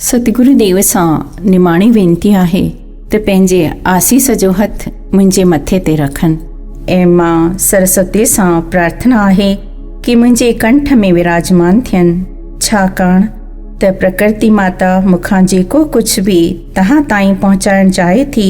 ستگرو ديو سان نماڻي وينتي آهي ته پنهنجي آسيس جو هٿ منهنجي مٿي تي رکن. اي ماء سرسوتي سان پرارٿنا آهي ڪي منهنجي ڪنٺ ۾ وراجمان ٿين ڇاڪاڻ ته پرڪرتي ماتا مون کان جيڪو ڪجهه به توهان تائين پهچائڻ چاهي ٿي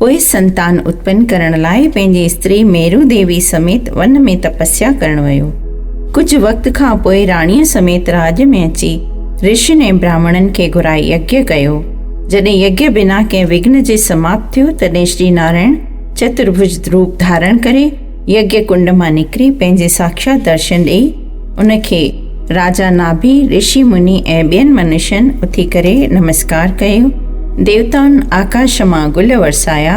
پوء سنتان اتپن ڪرڻ لاء پنهنجي استري ميرو ديوي سميت ون ۾ تپسيا ڪرڻ ويو. ڪجهه وقت کان پوء راڻيء سميت راڄ ۾ اچي رشين ۽ براهمڻن کي گهرائي يگيا ڪيو. جڏهن يگيا بنا ڪنهن وگهن جي سماپت ٿيو، تڏهن شري نارائڻ چترڀج روپ ڌارڻ ڪري، يگيا ڪنڊ مان نڪري پنهنجي ساکشات درشن ڏئي ان کي راجا ناڀي رشي مني ۽ ٻين منشين اٿي ڪري نمسڪار ڪيو ديوتائن آڪاش مان گل ورسايا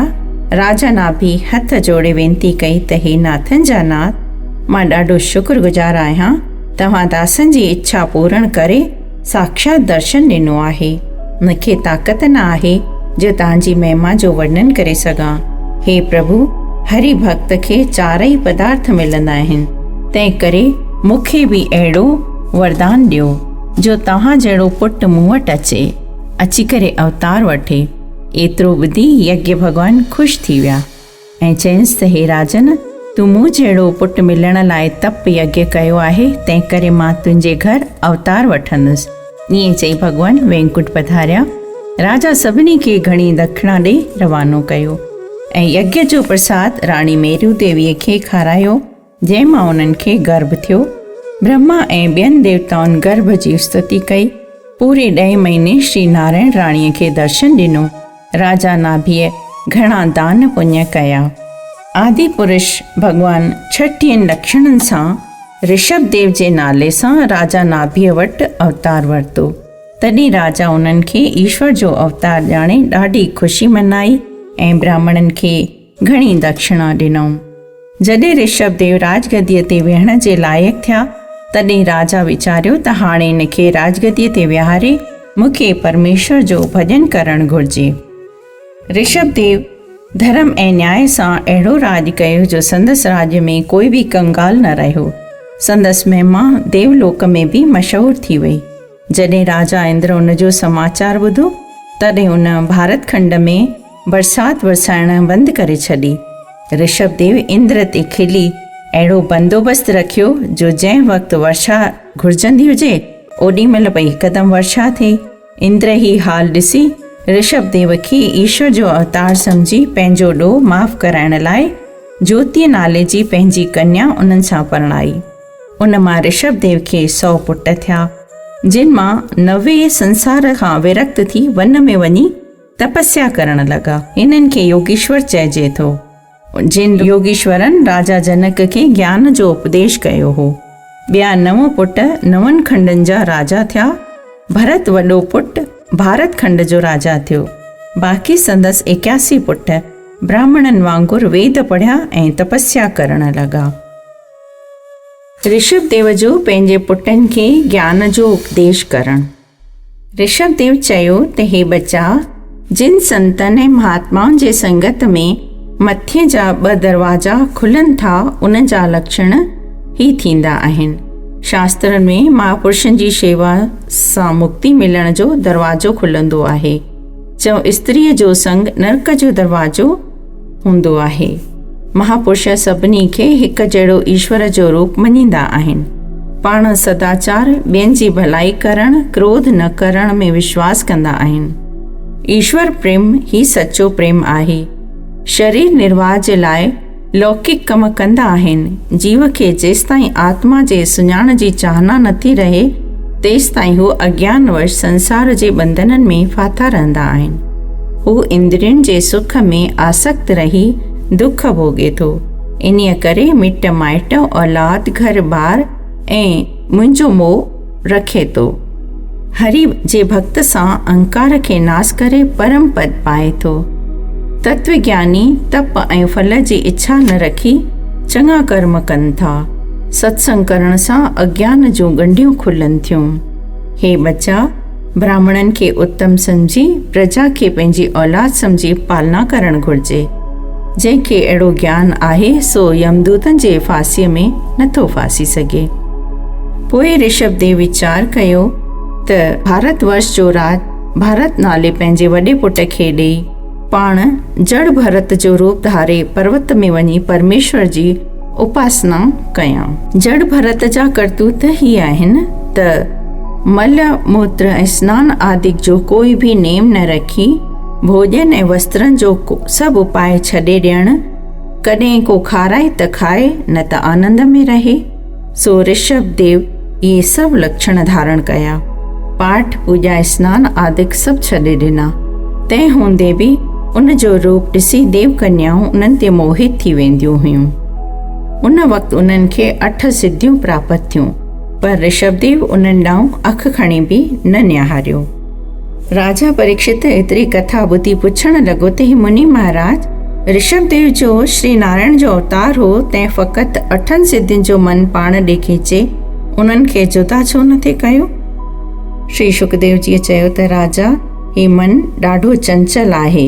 راجا ناڀي هٿ جوڙي وينتي ڪئي ته هي ناٿن جا ناٿ مان ڏاڍو شڪر گذار آهيان توهان داسن جي اڇا پورڻ ڪري ساکشات درشن ڏنو آهي. مون کي طاقت نه آهي جو تنهن جي مهما جو ورنن ڪري سگهان. هي پرڀو! هري ڀڳت کي چارئي پدارٿ ملندا آهن، تنهن ڪري مون کي به اهڙو وردان ڏيو جو توهان جهڙو پٽ مون وٽ اچي، اچي ڪري اوتار وٺي. ايترو ٻڌي يجنا ڀڳوان خوش ٿي ويا. ۽ چيائينس ته هي راجن! تون مون جهڙو پٽ ملڻ لاء تپ يگيّ ڪيو آهي، تنهنڪري مان تنهنجي گهر اوتار وٺندس. ائين چئي ڀڳوان وينڪٽ پڌاريا. راجا سڀني کي گهڻي دکڻا ڏئي روانو ڪيو ۽ يگيّ جو پرساد راڻي ميرو ديويء کي کارايو. جنهن مان انهن کي گرڀ ٿيو. برهما ۽ ٻين ديوتائن گرڀ جي استتي ڪئي. پوري ڏهين مهيني شري نارائڻ راڻيء کي درشن ڏنو. راجا ناڀيء گهڻا دان پڃ ڪيا. آدي پرش ڀڳوان ڇٽيهن لڪشڻن سان رشڀ ديو جي نالي سان راجا ناڀيء وٽ اوتار ورتو. تڏهن راجا انهن کي ايشور جو اوتار ڄاڻي ڏاڍي خوشي منائي ۽ براهمڻن کي گهڻي دکشڻا ڏنائون. جڏهن رشڀ ديو راجگديء تي ويهڻ جي لائق ٿيا، تڏهن راجا ويچاريو ته هاڻي هن کي راجگديء تي ويهاري مون کي پرميشور جو ڀڄن ڪرڻ گهرجي. رشڀ ديو ڌرم ۽ نياء سان اهڙو راڄ ڪيو جو سندس راڄ ۾ ڪوئي به ڪنگال نه رهيو. سندس مهما ديولوڪ ۾ به مشهور ٿي وئي. جڏهن راجا اندر ان جو سماچار ٻڌو، تڏهن ان ڀارت کنڊ ۾ برسات برسائڻ بند ڪري ڇڏي. رشڀ ديو اندر تي کلي اهڙو بندوبست رکيو جو جنهن وقت ورشا گهرجندي هجي، اوڏي مهل پئي هڪدم ورشا ٿئي. اندر هي حال ڏسي، رشڀ ديو کي ايشور جو اوتار سمجهي پنهنجو ڏوهه معاف ڪرائڻ لاء جوتيء نالي جي پنهنجي ڪنيا انهن سان پرڻائي. ان مان رشڀ ديو کي سؤ پٽ ٿيا، جن مان نوي سنسار کان ورڪت ٿي ون ۾ وڃي تپسيا ڪرڻ لڳا. انهن کي يوگيشور چئجي ٿو. جن يوگيشورن راجا جنڪ کي گيان جو اپديش ڪيو هو. ٻيا نو پٽ نون کنڊن جا راجا ٿيا. ڀرت وڏو پٽ ڀارت کنڊ جو راجا ٿيو. باقي سندس ايڪياسي پٽ براهمڻن وانگر ويد پڙهيا ۽ تپسيا ڪرڻ لڳا. رشڀ ديو جو پنهنجي پٽن کي گيان جو اپديش ڪرڻ. رشڀ ديو چيو ته هي ٻچا جن سنتن ۽ مهاتمائن جي سنگت ۾ مٿي جا ٻه دروازا کلن ٿا ان جا لڪشڻ هي ٿيندا آهن. شاسترن ۾ مهاپرشن جي شيوا سان مڪتي ملڻ جو دروازو کلندو آهي. چئو استريء جو سنگ نرڪ جو دروازو هوندو آهي مهاپرش سڀني کي هڪ جهڙو ايشور جو روپ مڃيندا آهن پاڻ سداچار ٻين جي ڀلائي ڪرڻ ڪروڌ نه ڪرڻ ۾ وشواس ڪندا آهن ايشور پريم هي سچو پريم آهي شرير نرواهه جي لاء لوڪڪ ڪم ڪندا آهن جيو کي جيستائين آتما جي سڃاڻ جي چاهنا نٿي رهي تيستائين هو اگيان وش سنسار جي ٻنڌنن ۾ ڦاٿا رهندا آهن. هو اندرين جي سک ۾ آسڪت رهي دک ڀوڳي ٿو. انهيء ڪري مٽ مائٽ، اولاد، گهر ٻار ۽ منهنجو موهه رکي ٿو. هريء جي ڀڳت سان اهنڪار کي ناس ڪري پرم پد پائي ٿو. تتوگياني تپ ۽ ڦل جي اڇا نه رکي چڱا ڪرم ڪن ٿا. ستسنگ ڪرڻ سان اگيان جون ڳنڍيون کلن ٿيون. هي ٻچا، براهمڻن کي اتم سمجهي، پرجا کي پنهنجي اولاد سمجهي پالنا ڪرڻ گهرجي. جنهن کي اهڙو گيان آهي، سو يمدوتن جي ڦاسيء ۾ نه ٿو ڦاسي سگهي. پوء رشڀ ديو ويچار ڪيو ته ڀارت ورش جو راڄ ڀارت نالي پنهنجي وڏي پٽ کي ڏيئي، پاڻ جڙ ڀرت جو روپ ڌاري پروت ۾ وڃي پرميشور جي اپاسنا ڪيان. جڙ ڀرت جا ڪرتوت هي آهن ته مل موتر ۽ سنان آدڪ جو ڪوئي به نيم نه رکي ڀوڄن ۽ وسترن جو سڀ اپاء ڇڏي ڏيڻ، ڪڏهن ڪو کارائي ته کائي نه ته آنند ۾ رهي. سو رشڀ ديو اهي سڀ لڪشڻ ڌارڻ ڪيا. پاٺ، پوڄا، اسنان آدڪ سڀ ڇڏي ڏنا. تنهن هوندي به ان جو روپ ڏسي ديو ڪنيائون انهن تي موهت ٿي وينديون هيون. ان وقت انهن کي اٺ سڌيون پراپت ٿيون، پر رشڀ ديو انهن ڏانهن اک کڻي به نه نهاريو. راجا پريڪشت ايتري ڪٿا ٻڌي پڇڻ لڳو ته هي مني مهاراج رشڀ ديو جو شري نارائڻ جو اوتار هو تنهن فقط اٺن سڌين جو من پاڻ ڏي کيچي انهن کي جدا ڇو نه ٿي ڪيو؟ شري شڪديو جيء چيو ته راجا هي من ڏاڍو چنچل آهي.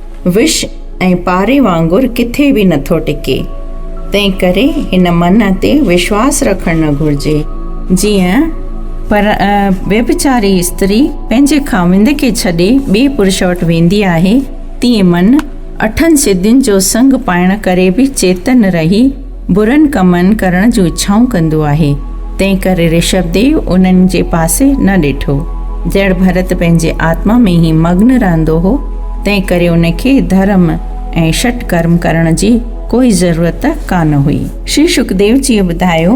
وش ۽ پاري وانگر ڪٿي به نٿو ٽڪي، تنهن ڪري هن منهن تي وشواس رکڻ نه گهرجي. جيئن پر ويڀچاري استري پنهنجي خاوند کي ڇڏي ٻئي پرش وٽ ويندي آهي، تيئن منهن اٺن سڌين جو سڱ پائڻ ڪري به چيتن رهي، برن ڪمن ڪرڻ جون اڇائون ڪندو آهي، تنهنڪري رشڀ ديو انهن جي پاسي نه ڏٺو. جهڙ ڀرت پنهنجي آتما ۾ ئي مگن رهندو هو، تنهنڪري ان کي ڌرم ۽ شٽ ڪرم ڪرڻ جي ڪوئي ضرورت ڪانه هئي. شري شڪديو جيء ٻڌايو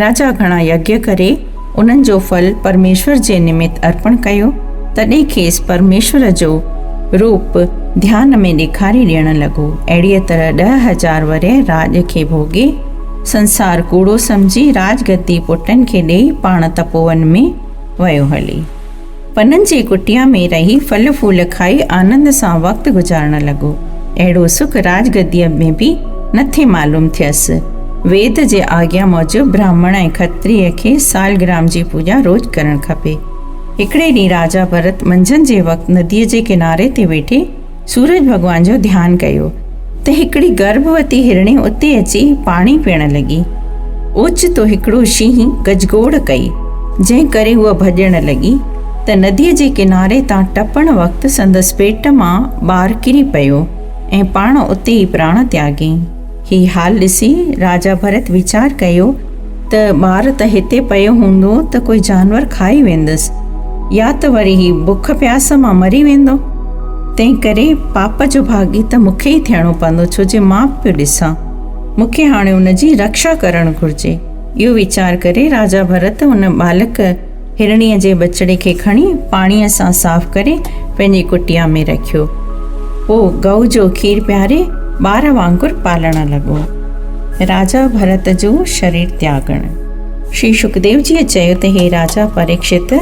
راجا گهڻا يگيا ڪري انهن جو ڦل پرميشور جي نمت ارپڻ ڪيو، تڏهن کيس پرميشور جو روپ ڌيان ۾ ڏيکاري ڏيڻ لڳو. اهڙيء طرح ڏهه هزار ورهيه راڄ کي ڀوڳي، سنسار ڪوڙو سمجهي، راڄ گدي پٽن کي ڏيئي، پاڻ تپوون ۾ ويو هلي. پنن جي ڪٽيا ۾ رهي ڦل ڦول کائي آنند سان وقت گذارڻ لڳو. اهڙو سک راج گديء ۾ به نه ٿي معلوم ٿيس. ويد جي آگيا موجب براهمڻ ۽ کتريء کي سالگرام جي پوڄا روز ڪرڻ کپي. هڪڙي ڏينهن راجا ڀرت منجهند جي وقت نديء جي ڪناري تي ويٺي، سورج ڀڳوان جو ڌيان ڪيو ته هڪڙي گرڀوتي هرڻي اتي اچي پاڻي پيئڻ لڳي. اوچتو هڪڙو شينهن گجگوڙ ڪئي، جنهن ڪري هوء ڀڄڻ لڳي ته نديء جي ڪناري تان ٽپڻ وقت سندس پيٽ مان ٻار ڪري پيو ۽ پاڻ اتي ئي پراڻ تياڳيائين. هي حال ڏسي راجا ڀرت ويچار ڪيو ته ٻار ته هتي پيو هوندو ته ڪوئي جانور کائي ويندس يا ته وري هي بک پياس مان مري ويندو تنهن ڪري پاپ جو ڀاڳي ته مون کي ئي ٿيڻو پوندو ڇو جي مان پيو ڏسان مون کي هاڻي ان جي رڪشا ڪرڻ گهرجي اهو ويچار ڪري راجا ڀرت ان ٻالڪ هرڻيء جي ٻچڙي کي کڻي پاڻيء سان صاف ڪري پنهنجي ڪٽيا ۾ رکيو. پوء گئو جو کير پياري ٻار وانگر پالڻ لڳو. راجا ڀرت جو شرير تياڳڻ. شري شڪديو جيء چيو ته هي راجا پريڪشت!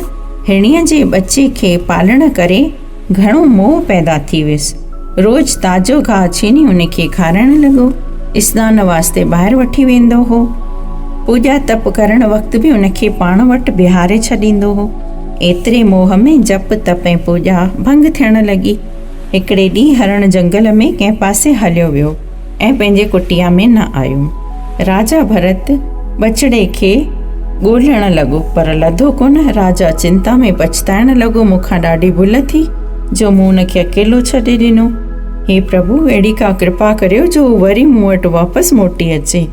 هرڻيء جي ٻچي کي پالڻ ڪري گهڻو موهه پيدا ٿي ويس. روز تازو گاهه ڇيني ان کي کارائڻ لڳو. اسنان واسطي ٻاهر وٺي ويندو هو. پوڄا تپ ڪرڻ وقت به ان کي پاڻ وٽ بيهاري ڇڏيندو هو. ايتري موهه ۾ جپ تپ ۽ پوڄا ڀنگ ٿيڻ لڳي. هڪڙي ڏينهن هرڻ جنگل ۾ ڪنهن پاسي هليو ويو. ۽ پنهنجي ڪٽيا ۾ نه آيو. راجا ڀرت ٻچڙي کي ڳولڻ لڳو پر لڌو ڪونه. راجا چنتا ۾ پڇتائڻ لڳو، مون کان ڏاڍي ڀل ٿي جو مون ان کي اڪيلو ڇڏي ڏنو. هي پرڀو! اهڙي ڪا ڪرپا ڪريو جو هو وري مون وٽ واپس موٽي اچي.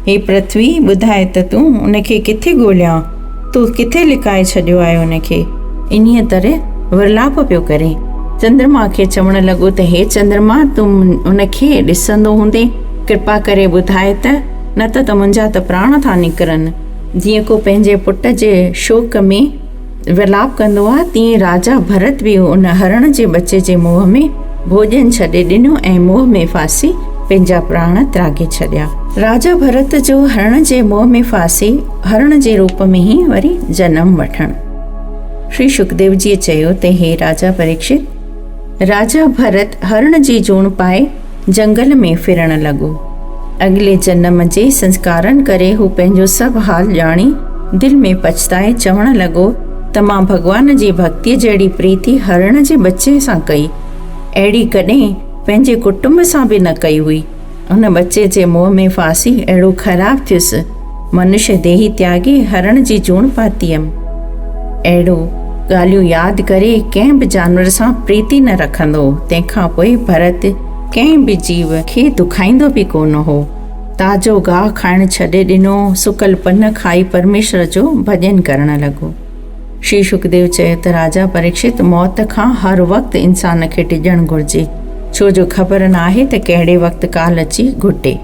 هي پرٿوي، ٻڌاء ته تون ان کي ڪٿي ڳوليان؟ تو ڪٿي لڪائي ڇڏيو آهي ان کي؟ انهيء طرح ورلاپ پيو ڪري. چندرما کي چوڻ لڳو ته هي چندرما، تون ان کي ڏسندو هوندين، ڪرپا ڪري ٻڌاء ته، نه ته ته منهنجا ته پراڻ ٿا نڪرن. جيئن ڪو پنهنجي پٽ جي شوق ۾. ولاپ ڪندو آ تيئن راجا ڀرت به ان هرڻ جي ٻچي جي منهن ۾ ڀوڄن ڇڏي ڏنو ۽ منهن ۾ ڦاسي پنهنجا پراڻ تراگي ڇڏيا. راجا ڀرت جو هرڻ جي منهن ۾ ڦاسي هرڻ جي روپ ۾ ئي وري جنم وٺڻ. شري شڪديو جيء چيو ته هي راجا پريڪشت! راجا ڀرت هرڻ جي جوڻ پائي جنگل ۾ ڦرڻ لڳو. اڳلي جنم جي سنسڪارن ڪري هو پنهنجو سڀ حال ڄاڻي دل ۾ پڇتائي چوڻ لڳو ته مان ڀڳوان جي ڀڳتيء جهڙي پريتي هرڻ جي ٻچي سان ڪئي. اهڙي ڪڏهن پنهنجي ڪٽنب سان به نه ڪئي هئي. ان ٻچي جي منهن ۾ ڦاسي اهڙو خراب ٿيس. منش ديهي تياڳي هرڻ جي جوڻ پاتي هيم. اهڙو ڳالهيون ياد ڪري ڪنهن به جانور سان پريتي نه رکندو هو. تنهن کان پوء ڀرت ڪنهن به جيو کي دکائيندو به ڪونه هو. تازو گاهه کائڻ ڇڏي ڏنو، سڪل پن کائي پرميشور جو ڀڄن ڪرڻ لڳو. شري شڪديو چيو ته راجا پريڪشت موت کان هر وقت انسان کي ڊڄڻ گهرجي ڇو جو خبر ناهي ته ڪهڙي وقت ڪال اچي گهٽي.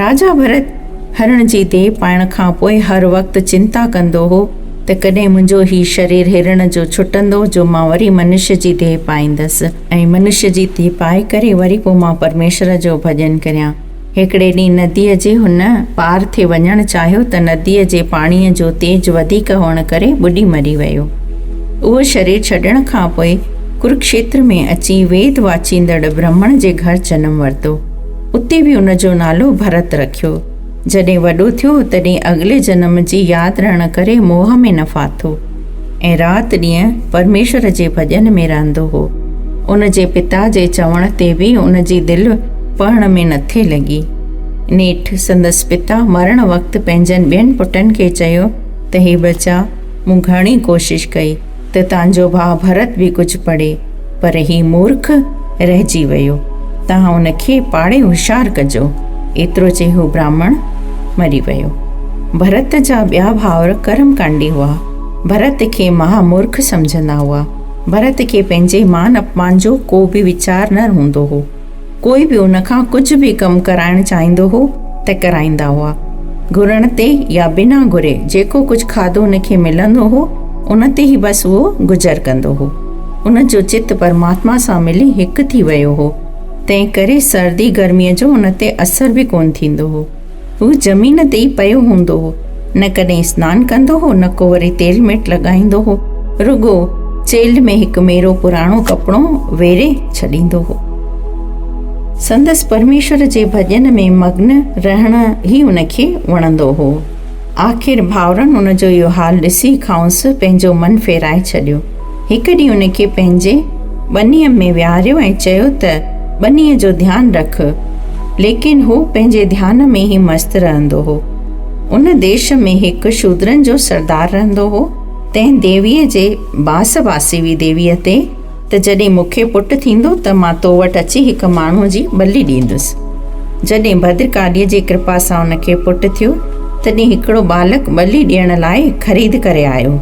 راجا ڀرت هرڻ جي ديهه پائڻ کان پوء هر وقت چنتا ڪندو هو ته ڪڏهن منهنجو هي شرير هرڻ جو ڇٽندو جو مان وري منشي جي ديهه پائيندس ۽ منشي جي ديهه پائي ڪري وري پوء مان پرميشور جو ڀڄن ڪريان. هڪڙي ڏينهن نديء جي هن پار ٿي وڃڻ چاهيو ته نديء جي پاڻيء جو تيز وڌيڪ هئڻ ڪري ٻڏي مري ويو. اهو شرير ڇڏڻ کان پوء ڪرڪشيتر ۾ اچي ويد واچيندڙ برهمڻ جي گهر جنم ورتو. اتي به ان جو نالو ڀرت رکيو. جڏهن وڏو ٿيو تڏهن اڳلي جنم جي ياد رهڻ ڪري موهه ۾ نه ڦاٿو. ۽ رات ڏينهن پرميشور جي ڀڄن ۾ رهندو هو. ان جي پتا جي چوڻ تي به ان جي دل پڙهڻ ۾ نه ٿي لڳي. نيٺ سندس پتا مرڻ وقت پنهنجن ٻين پٽن کي چيو ته هي ٻچا مون گهڻي ڪوشش ڪئي ته تنهنجو ڀاء ڀرت به ڪجهه پڙهي. پر هي مورک رهجي ويو، توهان ان کي پاڙي هوشيار ڪجو. ايترو چئي هو براهمڻ مري ويو. ڀرت جا ٻيا ڀائر ڪرم ڪانڊي هئا. ڀرت کي مها مورک سمجهندا هئا. ڀرت کي پنهنجي مان اپمان جو ڪو به ويچار نه هوندو هو. ڪوئي به ان کان ڪجهه به ڪم ڪرائڻ چاهيندو هو ته ڪرائيندا هئا. گهرڻ تي يا بنا گهري جيڪو ڪجهه کاڌو ان کي ملندو هو، ان تي ئي بس اهو گذر ڪندو هو. ان جو چت پرماتما سان ملي هڪ ٿي ويو هو، تنهن ڪري سردي گرميء جو ان تي اثر به ڪونه ٿيندو هو. هو زمين تي ئي پيو هوندو هو. نه ڪڏهن اسنان ڪندو هو، نه ڪو وري تيل ميٽ لڳائيندو هو. رڳو چيلهه ۾ هڪ ميرو پراڻو ڪپڙو ويڙهي ڇڏيندو هو. سندس پرميشور جي ڀڄن ۾ مگن رهڻ ئي ان کي وڻندو هو. آخر ڀائرن ان جو اهو حال ڏسي کانئس پنهنجو من ڦيرائي ڇڏيو. هڪ ڏينهن ان کي پنهنجي ٻنيء ۾ ويهاريو ۽ چيو ته ٻنيء جو ڌيان رک. ليڪن هو پنهنجي ڌيان ۾ ئي مست رهندو هو. ان ديش ۾ هڪ شودرن جو سردار رهندو هو. تنهن ديويء جي باس باسي هئي ديويء تي ته جڏهن مون کي پٽ ٿيندو ته مان تو وٽ اچي هڪ ماڻهوء جي ٻلي ڏيندس. جڏهن ڀدرڪاليء جي ڪرپا سان ان کي پٽ ٿيو تڏهن هڪڙو ٻالڪ ٻلي ڏيڻ لاء خريد ڪري آيو.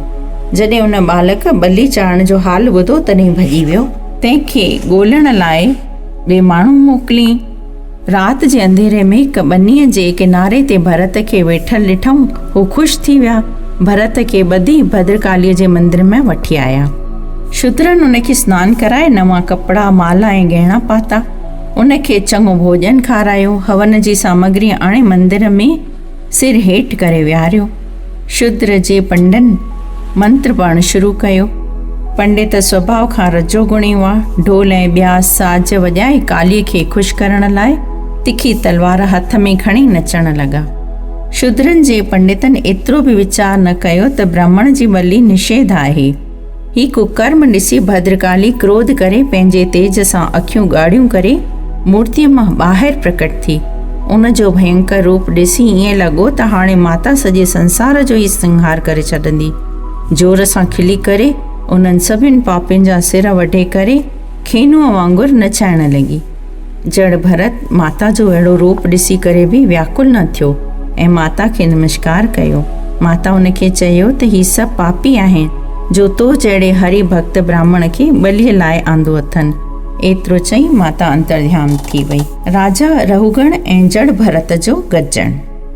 جڏهن ان ٻالڪ ٻلي چاڙهڻ جو حال ٻڌو تڏهن ڀڄي ويو. تنهن کي ڳولڻ لاء ٻئي ماڻهو موڪليئي. رات جي انڌيري ۾ هڪ ٻنيء جي ڪناري تي ڀرت کي ويٺل ڏٺائون. هو خوش ٿي ويا. ڀرت کي ٻڌي ڀدرڪاليء جي مندر ۾ وٺي آيا. شودرن ان کي سنان ڪرائي نوان ڪپڙا، مالا ۽ ڳهڻا پاتا. ان کي چڱو ڀوڄن کارايو. هون جي سامگري آڻي مندر ۾. سر هيٺ ڪري ويهاريو. شودر جي پنڊن منتر پڙهڻ شروع ڪيو. پنڊت سوڀاء کان رجو گڻي هئا. ڍول ۽ ٻيا ساز وڄائي ڪاليء کي خوش ڪرڻ لاء تکي تلوار هٿ ۾ کڻي نچڻ لڳا. شودرن جي پنڊتن ايترو به ويچار نه ڪيو ته برهمڻ جي ٻلي نشيڌ آهي. هي ڪڪرم ڏسي ڀدرڪالي ڪروڌ ڪري پنهنجي تيج سان اکيون ڳاڙهيون ڪري مورتيء مان ٻاهر پرڪٽ ٿي ان جو ڀينڪر روپ ڏسي ائين لڳو ته هاڻي ماتا سڄي سنسار جو ئي سنگهار ڪري ڇڏندي زور سان کلي ڪري انهن سڀن پاپين جا سر وڍي ڪري کينوء وانگر نچائڻ لڳي جهڙ ڀرت ماتا جو اهڙو روپ ڏسي ڪري به وياڪل نه ٿيو ۽ ماتا کي نمشڪار ڪيو. ماتا ان کي چيو ته هي سڀ پاپي آهن جو تو جهڙي هري ڀڳت براهمڻ کي ٻليء لاء آندو اٿن. ايترو چئي ماتا انترڌيان ٿي وئي. راجا رهوڳڻ ۽ جهڙ ڀرت جو گڏجڻ.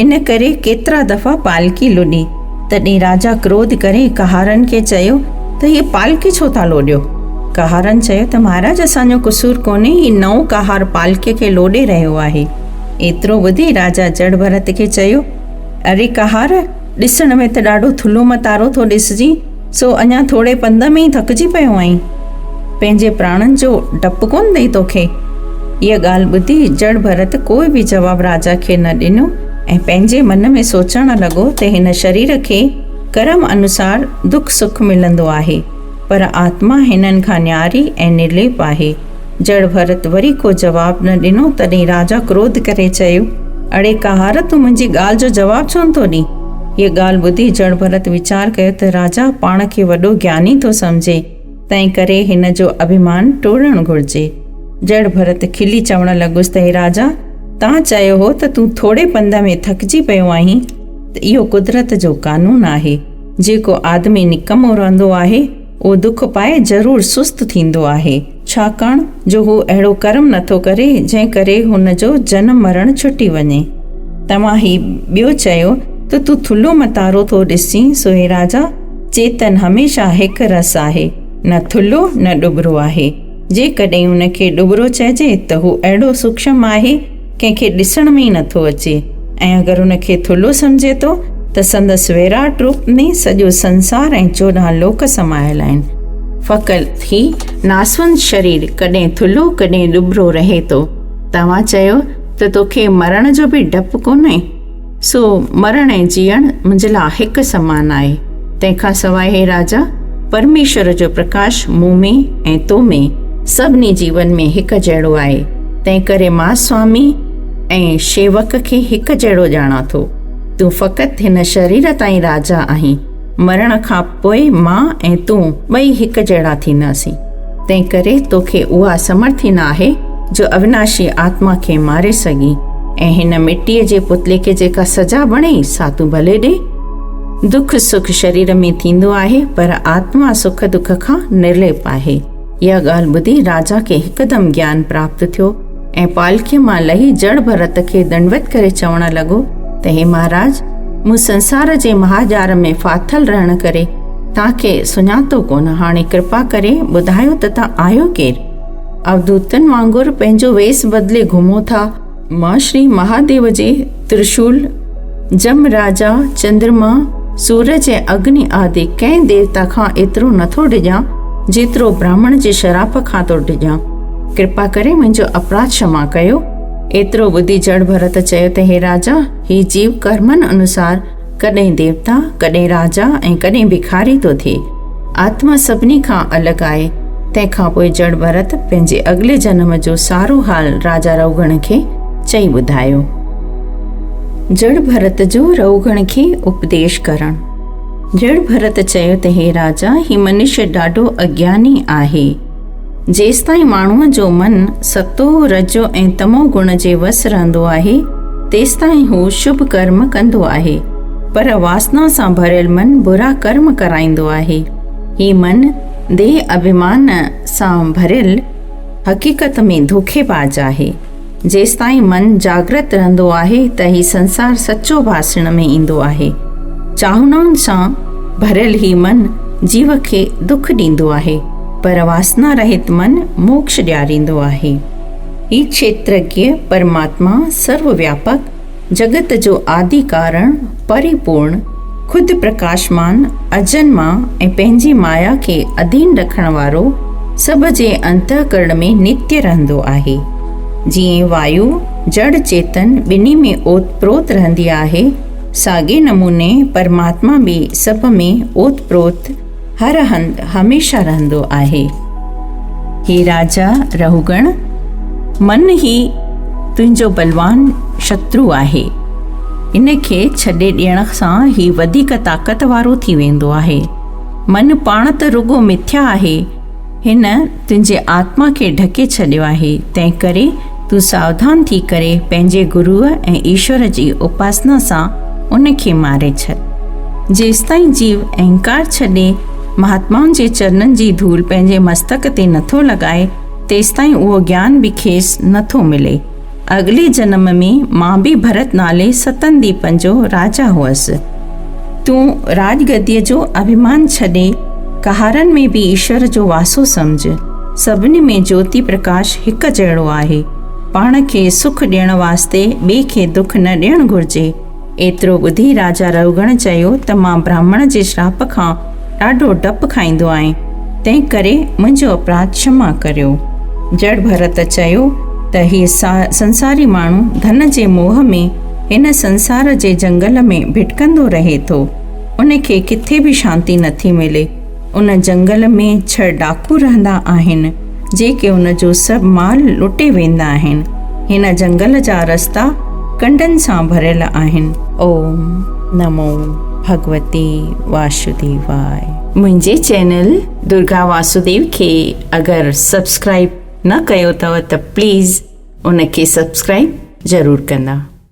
ان ڪري ڪيترا دفعا پالڪي لڏي، تڏهن راجا ڪروڌ ڪري ڪهارن کي چيو ته هيء پالڪي ڇو ٿا لوڏيو؟ ڪهارن چيو ته مهاراج اسان جو قصور ڪونهي، هي نئون ڪهار پالڪي کي لوڏي رهيو آهي. ايترو ٻڌي راجا جڙ ڀرت کي چيو، اري ڪهار! ڏسڻ ۾ ته ڏاڍو ٿلهو متارو ٿو ڏسجين، سو اڃا ٿوري پنڌ ۾ ئي ٿڪجي پيو آهين؟ پنهنجي پراڻن جو ڊپ ڪونه اٿئي توکي؟ اها ڳالهه ٻڌي جڙ ڀرت ڪوئي به جواب راجا کي نه ڏنو ۽ پنهنجي من ۾ سوچڻ لڳو ته هن شرير کي ڪرم انوسار دک سک ملندو آهي پر آتما هنن کان نياري ۽ نرليپ آهي. جڙ ڀرت وري ڪو جواب نه ڏنو، تڏهن راجا ڪروڌ ڪري چيو، اڙي ڪهار تون منهنجي ڳالهه جو جواب ڇو نٿو ڏين؟ هيء ڳالهه ٻڌي جڙ ڀرت ويچار ڪيو ته راجا پاڻ کي وڏو گياني ٿو سمجهي، تنهن ڪري هن جو اڀيمان ٽوڙڻ گهرجي. جڙ ڀرت کلي چوڻ لڳس ته هي راجا! تان چيو هو ته تون ٿوري پنڌ ۾ ٿڪجي پيو آهين ته اهو قدرت جو قانون آهي، جيڪو آدمي نڪمو رهندو آهي، اهو دک پائي ضرور سست ٿيندو آهي، ڇاڪاڻ جو هو اهڙو ڪرم نه ٿو ڪري، جنهن ڪري هن جو جنم مرڻ ڇٽي وڃي. توهان هي ٻيو چيو ته تون ٿلهو متارو ٿو ڏسجين، سو هي راجا، چيتن هميشه هڪ رس آهي، نه ٿلهو نه ڏٻرو آهي. جيڪڏهن ان کي ڏٻرو چئجي ته هو اهڙو سوڪشم آهي، ڪنهن کي ڏسڻ ۾ ئي نه ٿو اچي ۽ اگر ان کي ٿلهو سمجهي ٿو ته سندس ويراٽ روپ ۾ سڄو سنسار ۽ چوڏهن لوڪ سمايل آهن. فقط هي ناسوند شرير ڪڏهن ٿلهو ڪڏهن ڏٻرو رهي ٿو. توهان چيو ته توکي مرڻ جو به ڊپ ڪونهي؟ سو مرڻ ۽ جيئڻ منهنجي لاء هڪ سمان آهي. تنهن کان سواء هي راجا، پرميشور جو پرڪاش مون ۾ ۽ تو ۾ سڀني جيون ۾ هڪ جهڙو آهي. تنهنڪري مان سوامي ۽ شيوڪ کي هڪ جهڙو ڄاڻان ٿو. تون فقط هن شرير تائين راجا آهين. مرڻ کان پوء مان ۽ تون ٻئي هڪ جهڙا ٿينداسين. تنهن ڪري توکي اها سمرٿ ئي نه آهي جو اويناشي آتما کي ماري سگهين ۽ هن مٽيء جي پتلي کي جيڪا سزا بڻي سا تون ڀلي ڏي. دک سک شرير ۾ ٿيندو آهي پر آتما سک دک کان نرليپ آهي. اها ڳالهه ٻڌي راجا کي هڪدم گيان پراپت ٿيو. ۽ پالڪيء مان لهي جڙ ڀرت کي دنڊوت ڪري چوڻ لڳو ته هي مهاراج مون سنسار جي مهاڄار ۾ ڦاٿل رهڻ ڪري تان کي سڃاتو ڪونه هاڻي ڪرپا ڪري ٻڌايو ته تان آهيو ڪير اوڌوتن وانگر پنهنجو ويس بدلي گهمو ٿا مان شري مهاديو جي ترشول، جم راجا، چندرما، سورج ۽ اگني آدي ڪئين ديوتا کان ايترو نه ٿو ڊڄان جيترو براهمڻ جي شراپ کان ٿو ڊڄان. ڪرپا ڪري منهنجو اپراڌ شما ڪيو. ايترو ٻڌي جڙ ڀرت چيو ته هي راجا، هي جيو ڪرمن انوسار ڪڏهن ديوتا، ڪڏهن راجا ۽ ڪڏهن ڀکاري ٿو ٿئي. آتما سڀني کان الڳ آهي. تنهن کان پوء جڙ ڀرت پنهنجي اڳلي جنم جو سارو حال راجا رئوگڻ کي چئي ٻڌايو. جڙ ڀرت جو رئوگڻ کي اپديش ڪرڻ. جڙ ڀرت چيو ته هي راجا، هي منشي ڏاڍو اگياني آهي. جيستائين ماڻهوء جو من ستو، رجو ۽ تمو گڻ جي وس رهندو آهي، تيستائين هو شڀ ڪرم ڪندو آهي، پر واسنا سان ڀريل من برا ڪرم ڪرائيندو آهي. هي من ديهه، اڀيمان، سان ڀريل حقيقت ۾ ڌوڪي باز آهي. جيستائين من جاگرت رهندو آهي ته هي سنسار سچو ڀاسڻ ۾ ايندو آهي. چاهنائن سان ڀريل هي من جيو کي دک ڏيندو آهي، پر واسنا رهت من موڪش ڏياريندو آهي. هي کيترگيء پرماتما سرو وياپڪ، جڳت جو آدي ڪارڻ، پري پورڻ، خود پرڪاشمان، اجن مان ۽ پنهنجي مايا کي اڌين رکڻ وارو، سڀ جي انتهڪرڻ ۾ نتي رهندو آهي. جيئن وايو، جڙ، چيتن ٻنهي ۾ اوت پروت رهندي آهي، ساڳئي نموني پرماتما به سڀ ۾ اوت پروت، هر هنڌ هميشه رهندو آهي. هي راجا رهوڳڻ، من هي تنهنجو بلوان شترو آهي. ان کي ڇڏي ڏيڻ سان هي وڌيڪ طاقت وارو ٿي ويندو آهي. من پاڻ ته رڳو مٿيا آهي، هن تنهنجي آتما کي ڍڪي ڇڏيو آهي، تنهنڪري تون ساوڌان ٿي ڪري پنهنجي گروء ۽ ايشور جي اپاسنا سان ان کي ماري ڇڏ. جيستائين جيو اهنڪار ڇڏي مهاتمائن جي چرنن جي ڌول پنهنجي مستڪ تي نٿو لڳائي، تيستائين اهو گيان به کيس نٿو ملي. اڳلي جنم ۾ مان به ڀرت نالي ستن ديپن جو راجا هئس. تون راڄ گديء جو اڀيمان ڇڏي، ڪهارن ۾ به ايشور جو واسو سمجهه. سڀني ۾ جوتي پرڪاش هڪ جهڙو آهي. پاڻ کي سک ڏيڻ واسطي ٻئي کي دک نه ڏيڻ گهرجي. ايترو ٻڌي راجا رئوگڻ چيو ته مان براهمڻ جي شراپ کان ڏاڍو ڊپ کائيندو آهيان، تنهن ڪري منهنجو اپراڌ ڇما ڪريو. جڙ ڀرت چيو ته هي سنساري ماڻهو ڌن جي موهه ۾ هن سنسار جي جنگل ۾ ڀٽڪندو رهي ٿو. ان کي ڪٿي به شانتي نٿي ملي. ان جنگل ۾ ڇهه ڊاڪو رهندا آهن، جيڪي ان جو سڀ مال لٽي ويندا آهن. هن جنگل جا رستا ڪنڊن سان ڀريل آهن. اوم نمو ڀڳوتي واسوديواي. منهنجي چينل درگا واسوديو کي اگر سبسڪرائب نه ڪيو اٿو ته پليز ان کي سبسڪرائب ضرور ڪندا.